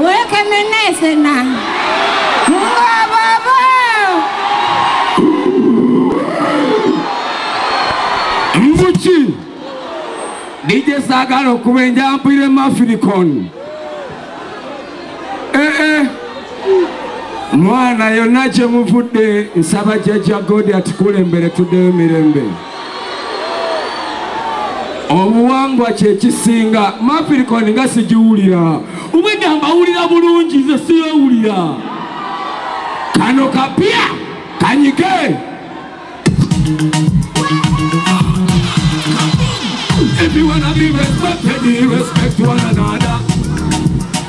Wekemenesena. Ngababa. Mbuki. DJ Sagala okuba enjampire mafilikon. Eh eh. Mwana yonna gye muvudde nsaba jajja God atukulembere tuddeyo mirembe. obuwangwa kyekisinga mafirikoni nga sigiwulira ubwedda mbawulira bulungi nze siyowulira kano kapya kanyike If you wanna be respected, respect one another.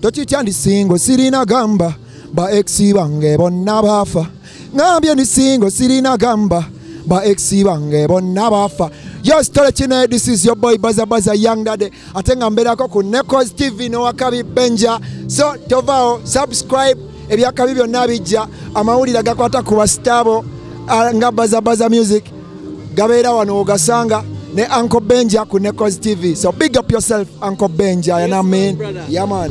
tokitya ndi singo sirina gamba ba exi bange bonna baafa ngambye ndi singo sirina gamba ba exi bange bonna baafa yes tole kino this is your boy baza baza young dade ate nga mbeerako ku necos tv nowakabi benja so tovaawo subscribe ebyakabi byonna bijja amawulire gakwata ku basitaabo ah, nga baza baza music gabeera wano ogasanga ne uncle benja ku necos tv so big up yourself uncle benja yes, you know what I mean? yeah, man.